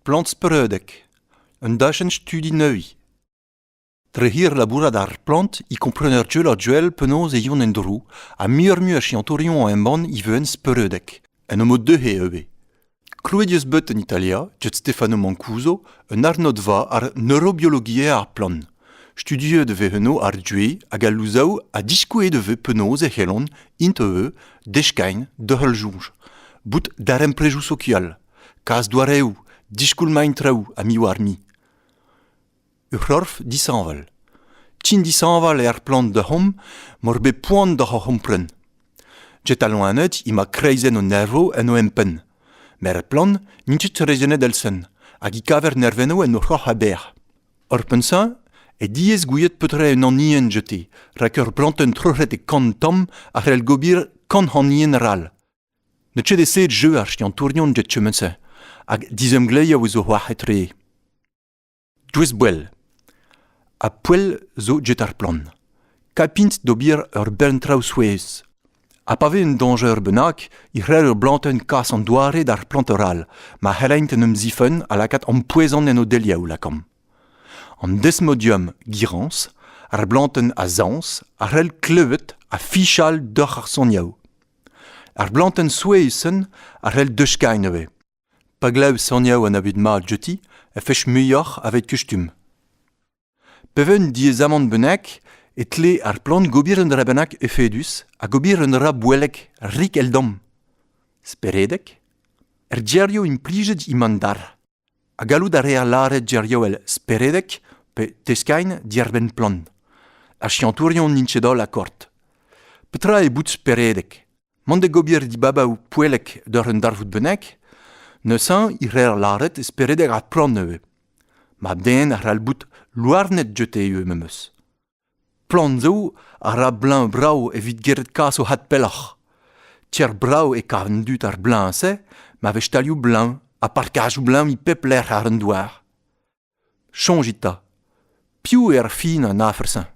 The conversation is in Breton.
Plant-speredek un dachenn-studi neuze. Trec'hir labourat ar plant e kompren ur jeu a-duell penaos e yon en-dro ha muioc'h-mui a siantourion a embann e veuent speredek. Un omp deuc'he ivez. Krouet eus bet en Italia, Gianni Stefano Mancuso, un arnodva àr neurobiologiezh ar plant. Studiet e vez eno ar due hag al louzaou ha diskouezet e vez penaos e c'hellont, int eux, deskagn da heul soñj. Bout darempredoù sokial, kas doareoù, diskoulmañ traoù ha miz war miz. Ur c'horf dishañval. Tin dishañval er plant deomp m'hor bet poan doc'h hor c'hompren. Jet al loened ema kreizenn o nervo en o empenn. Met er plant n'int ket rezenet elsen, hag e kaver nervennoù en o c'hroc'h aber. Hor pensañ eo diaes gouiet petra un anien jete, rak ur plantenn troc'het e kant tamm a c'hell gober kant anien ral. Ne ket eo jeu ar skiantourion jet kement-se, hag dizemgleiañ eus o c'hoar etre. Doueez-boell ha poell zo get ar plant. Kapint d'ober ur bern traoù souezh. Ha pa vez un dañjer bennak e c'hell ur blantenn kas an doare d'ar plant arall ma c'hellaint en em zifenn ha lakaat ampoezant en o deliaou lakaomp. An desmodium girañs, ar blantenn azañs, a c'hell klevet ha fichal doc'h ar soniaoù. Ar blantenn souezhus-sen a c'hell deuskañ nevez. Pa glav soniañ an abeg mat jeuti e fech muioc'h aveit kustum. Pe ven diaezamant bennak e tle ar plant gober un dra bennak efedus hag ober un dra boellek rik eldom. Speredek, er geriou implijet emañ dar. Ha gallout a reer lâret geriou all speredek pe teskain diarbenn plant. Ar siantourion n'int ket holl akord. Petra eo bout speredek? Mont da gober dibabaoù poellek d'ur un darvoud bennak? Neuze e reer lâret e speredeg ar poan ivez. Mab-den a c'hall bout louarnet jete ivez memes. Poan zo a ra bleñv-brav evit geret kas o had pelloc'h. Tier brav e kav an dud ar bleñv-se ma vez talioù-bleñv ha parkajoù-bleñv e pep lec'h àr an douar. Soñjit 'ta. Piv eo ar fin an afer-se?